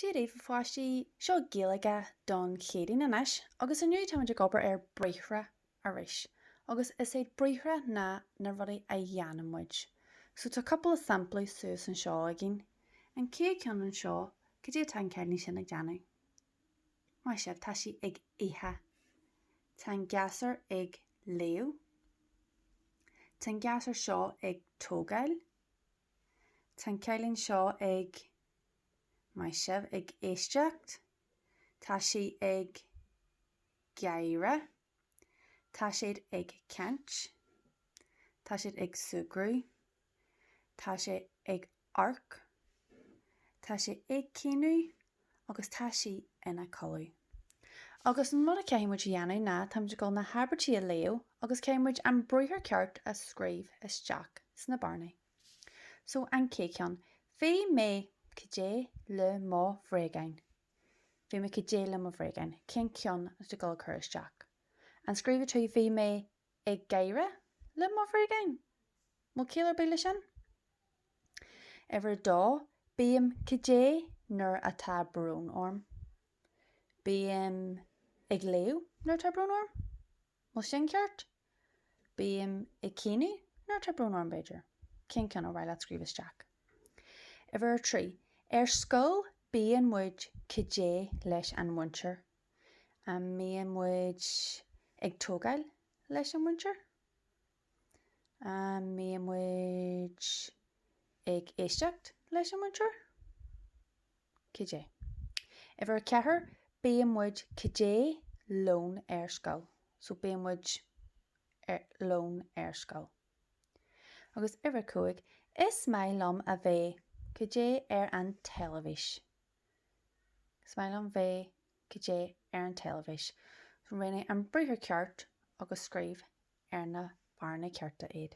Dia daoibh a pháistí, seo Gaeilge don Chéadaoin anois agus inniu táimid ag obair ar bhriathra arís agus is iad briathra ná na rudaí a dhéanann muid so tá cúpla sampla suas anseo againn, an chéad cheann anseo, cad é atá an cailín sin ag déanamh? Maith sibh, tá sí ag ithe. Tá an gasúr ag léamh. Tá an gasúr seo ag tógáil. Tá an cailín seo ag. Maith sibh ag éisteacht. Tá sí ag gáire. Tá siad ag caint. Tá siad ag súgradh. Tá sé ag amharc. Tá sé ag caoineadh. Agus tá sí ina codladh. Agus an rud a chaithfidh muid a dhéanamh ná, táimid ag dul na habairtí a léamh agus caithfidh muid an briathar ceart a scríobh isteach sna bearnaí. So an chéad cheann, bhí mé cad é le mo bhréagáin. Bhí mé cad é le mo bhréagáin, cén ceann atá tú ag dul a chur isteach? An scríobhfaidh tú bhí mé ag gáire le mo bhréagáin? Bhfuil ciall ar bith le sin? Uimhir a dó, bím cad é nuair atá brón orm. Bím ag léamh nuair atá brón orm. Bhfuil sin ceart? Bím ag caoineadh nuair atá brón orm, b'fhéidir. Cén ceann ar mhaith leat scríobh isteach? Uimhir a trí, Ar scoil bíonn muid cad é leis an mhúinteoir. An mbíonn muid ag tógáil leis an mhúinteoir? An mbíonn muid ag éisteacht leis an mhúinteoir? Cad é? Uimhir a ceathair, bíonn muid, cad é lón ar scoil? So bíonn muid lón ar scoil. Agus uimhir a cúig, is maith liom a bheith, cad é ar an teilifís? Is maith liom bheith Cad é ar an teilifís? So roghnaigh an briathar ceart agus scríobh ar na bearnaí cearta iad.